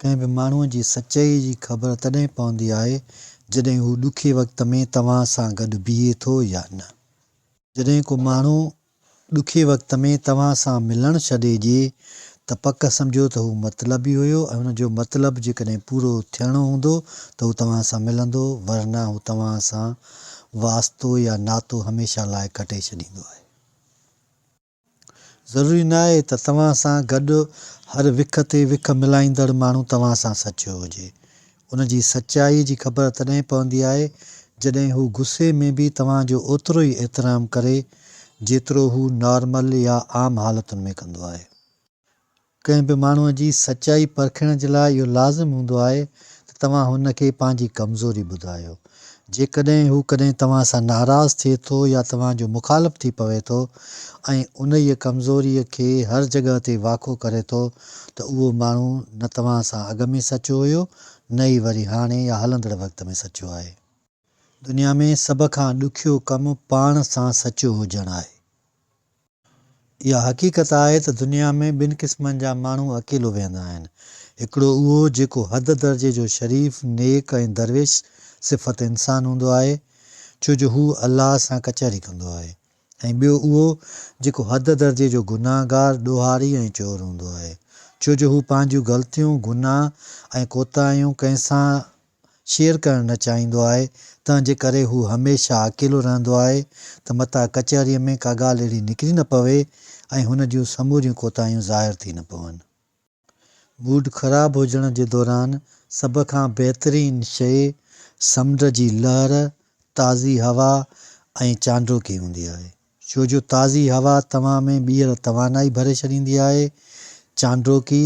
ڪنهن به ماڻهوء جي سچائيء جي خبر تڏهن پوندي آهي، جڏهن هو ڏکي وقت ۾ توهان سان گڏ بيهي ٿو يا نه. جڏهن ڪو ماڻهو ڏکي وقت ۾ توهان سان ملڻ ڇڏي ڏئي، ته پڪ سمجهو ته هو مطلبي هيو ۽ ان جو مطلب جيڪڏهن پورو ٿيڻو هوندو ته هو توهان سان ملندو، ورنه هو توهان سان واسطو يا ناتو هميشه لاء ڪٽي ڇڏيندو آهي. ضروري ناهي ته توهان سان گڏ هر وک تي وک ملائيندڙ ماڻهو توهان سان سچو هجي. ان جي سچائي جي خبر تڏهن پوندي آهي جڏهن هو غصي ۾ به توهان جو اوترو ئي احترام ڪري جيترو هو نارمل يا عام حالتن ۾ ڪندو آهي. ڪنهن به ماڻهوء جي سچائي پرکڻ جي لاء اهو لازم هوندو آهي ته توهان هن کي پنهنجي ڪمزوري ٻڌايو. جيڪڏهن هو ڪڏهن توهان سان ناراض ٿئي ٿو يا توهان جو مخالف ٿي پوي ٿو ۽ انهيء ڪمزوريء کي هر جڳهه تي واکو ڪري ٿو ته اهو ماڻهو نه توهان سان اڳ ۾ سچو هيو نه ئي وري هاڻي يا هلندڙ وقت ۾ سچو آهي. دنيا ۾ سڀ کان ڏکيو ڪم پاڻ سان سچو هجڻ آهي. اها حقيقت آهي ته دنيا ۾ ٻن قسمن جا ماڻهو اڪيلو ويهندا آهن. هڪڙو اهو جيڪو حد درجي جو شريف، نيڪ ۽ درويش صفت انسان هوندو آهي، ڇو جو هو الله سان ڪچهري ڪندو آهي ۽ ٻيو اهو جيڪو حد درجي جو گناهگار، ڏوهاري ۽ چور هوندو آهي، ڇو جو هو پنهنجيون غلطيون، گناهه ۽ ڪوتاهيون ڪنهن سان شيئر ڪرڻ نه چاهيندو آهي تنهن جي ڪري هو هميشه اڪيلو رهندو آهي ته متان ڪچهريء ۾ ڪا ڳالهه اهڙي نڪري نه پوي ۽ هن جون سموريون ڪوتاهيون ظاهر ٿي نه پون. موڊ خراب هجڻ جي دوران سڀ کان بهترين شيء سمنڊ جي لهر، تازي هوا ۽ چانڊوڪي هوندي آهي. ڇو جو تازي هوا توهان ۾ ٻيهر توانائي ڀري ڇڏيندي آهي. چانڊوڪي،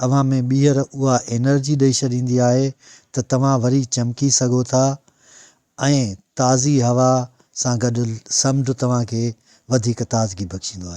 اوهان ۾ ٻيهر اها انرجي ڏئي ڇڏيندي آهي ته توهان وري چمڪي سگهو ٿا ۽ تازي هوا سان گڏ سمنڊ توهان کي وڌيڪ تازگي بخشيندو آهي.